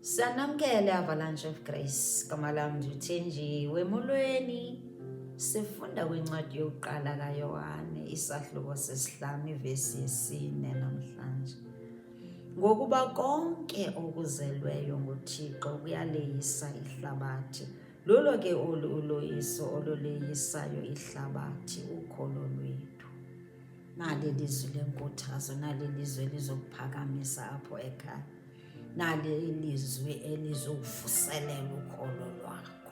Sanamukele Avalanche of Grace, gama lam ndithenji wemolweni. Sifunda kwincwadi yokuqala kaYohane isahluko sesihlanu ivesi yesine namhlanje. Ngokuba konke okuzelweyo nguThixo kuyaleyisa ihlabathi. Lulo ke olu uloyiso oluleyisayo ihlabathi ukholo lwethu. nali ilizwi lenkuthazo nali ilizwi elizokuphakamisa apho ekhaya nali ilizwi elizokuvuselela ukholo lwakho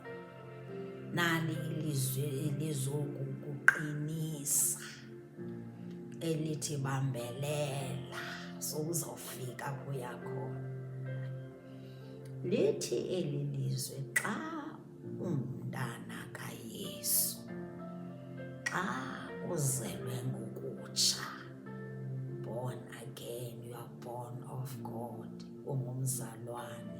nali ilizwi elizokukuqinisa elithi bambelela sowuzawufika kuyakhona lithi eli lizwe xa ungumntana kaYesu. Xa uzelwe ngokutsha, born again, you are born of God, ungumzalwane,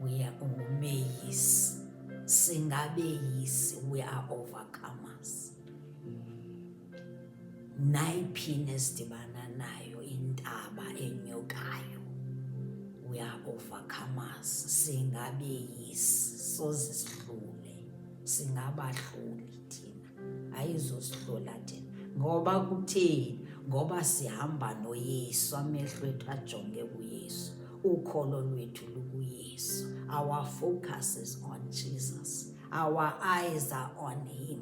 uye ungumeyisi, singabeyisi, we are overcomers. nayiphini esidibana nayo intaba enyukayo we are overcomers singabeyisi soze sihlule singabahluli thina ayizosihlula thina ngoba kutheni ngoba sihamba noyesu amehlo ethu ajonge kuyesu ukholo lwethu lukuyesu our focus is on jesus our eyes are on him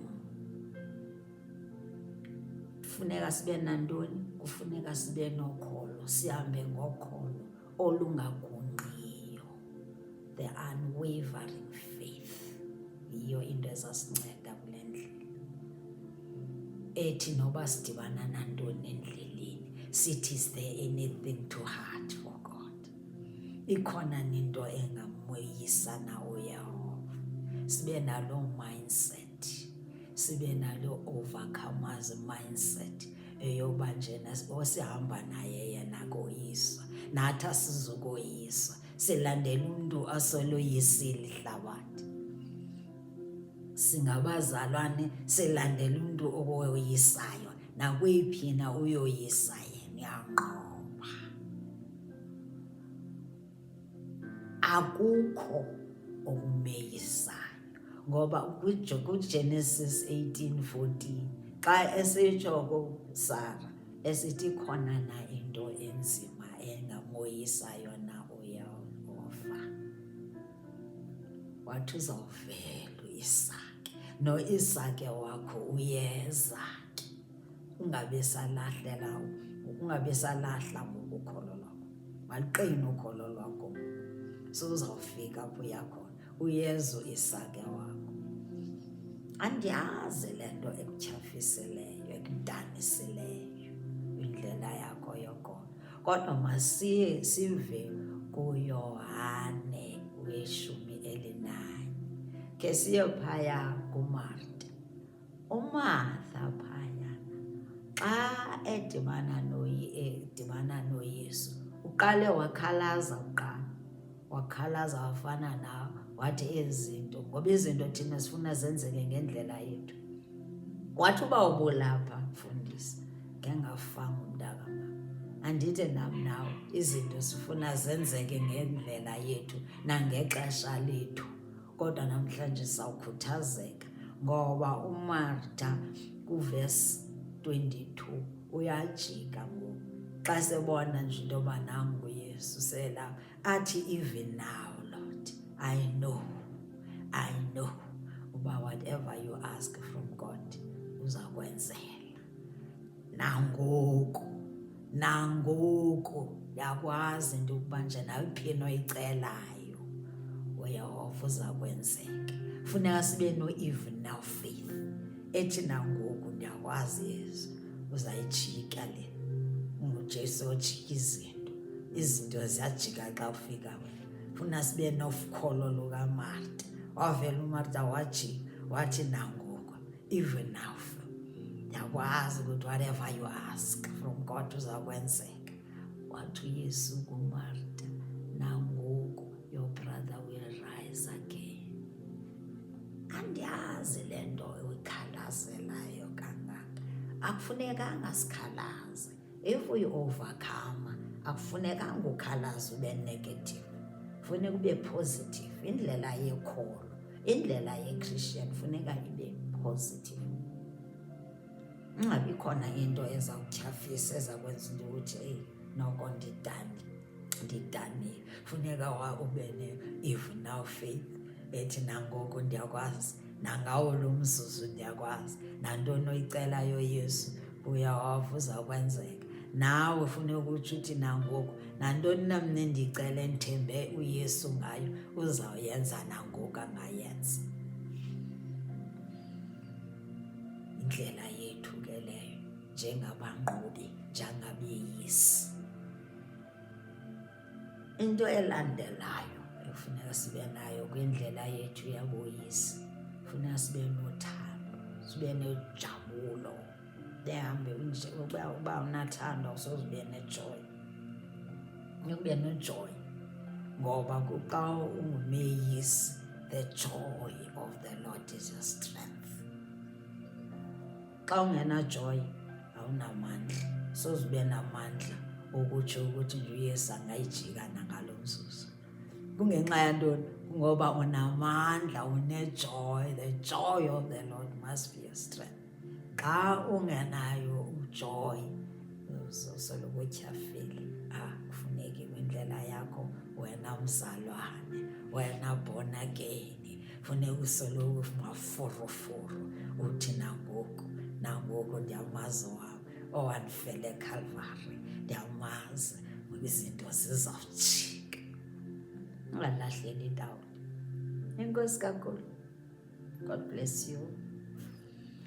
kufuneka sibe nantoni kufuneka sibe nokholo sihambe ngokholo olungagungqiyo the unwavering faith yiyo into ezasinceda kule ndlela ethi noba sidibana nantoni endleleni sithi is there anything to heart for god ikhona nento engamoyisa na uyehova sibe naloo mindset sibe naloo overcomers mindset eyoba njena osihamba naye yena koyiswa nathi asizukoyiswa silandela umntu aseloyisile ihlabathi singabazalwane silandela umntu okoyisayo nakweyiphi na uyoyisa yena uyanqoba akukho okumeyisayo ngoba kuGenesis 18:14 xa esitsho kusara esithi khona na into enzima engamoyisayo na uyehova wathi uzawuvela uisake noisake wakho uyeza ungabe salahlela ungabe salahla ngokukholo lwakho maliqine ukholo lwakho suzawufika apho uya khona uyezu isake wakho andiyazi le nto ekutyhafisileyo ekudanisileyo indlela yakho yokholo kodwa masiye sive kuyohane weshumi elinanye ke siye phaya kumarta UMartha phayana xa edibana edibana noYesu uqale wakhalaza kuqala wakhalaza wafana nawe wathi ezinto ngoba izinto thina sifuna zenzeke ngendlela yethu wathi uba ubulapha mfundisi ngengafanga umntakamama andithi nam nawe izinto sifuna zenzeke ngendlela yethu nangexesha lethu kodwa namhlanje sawukhuthazeka ngoba umarta kuvesi 22 uyajika ngoku xa sebona nje into yoba nam nguyesu selapha athi even now lord i know i know uba whatever you ask from god uza kwenzela nangoku nangoku yakwazi into yokuba nje naliphi into oyicelayo uyehova uza kwenzeka funeka sibe no-even now faith ethi nangoku ndiyakwazi yezu uzayijika le ngujesu ojika izinto izinto ziyajika xa ufika wena funa sibe nofukholo lukamarta wavela umarta wajika wathi nangoku even now ndiyakwazi ukuthi whatever you ask from god uzakwenzeka wathi uyesu kumarta nangoku your brother will rise again andiyazi le nto uyikhalazelayo kangaka akufunekanga sikhalaze If we overcome, akufunekanga ukhalaza ube negative. Funeka ube positive. Indlela yekholo, indlela ye-Christian funeka ibe positive. Ungabi khona into eza kutyhafisa eza kwenza into ukuthi eyi noko ndidani ndidanile. Funeka wa ube ne-if now faith ethi nangoku ndiyakwazi nangawo lo mzuzu ndiyakwazi nantoni oyicelayo Yesu uyawava uzawukwenzeka nawe funeka ukutsho uthi nangoku nantoni na mna endicele ndithembe uyesu ngayo uzawuyenza nangoku angayenza indlela yethu ke leyo njengabanqobi njengabeyisi Into elandelayo ekufuneka sibe nayo kwindlela yethu yaboyisi funeka sibe nothando sibe nojabulo behambe unje uba uba unathando awusoze ube nejoy ube nejoy ngoba kuxa ungumeyisi the joy of the lord is your strength xa ungenajoyi awunamandla soze ube namandla okutsho ukuthi nje uyesu angayijika nangalo mzuzu kungenxa yantoni ngoba unamandla unejoy the joy of the lord must be your strength xa ungenayo ujoy uzosoloko utyhafile ah kufuneki kwindlela yakho wena mzalwane wena born again Fune uso lowo maforoforo uthi nangoku nangoku ndiyamazi wam owandifele ekhalvari ndiyamazi ngoba izinto zizawujika ungalahleli indawo enkosi kankulu god bless you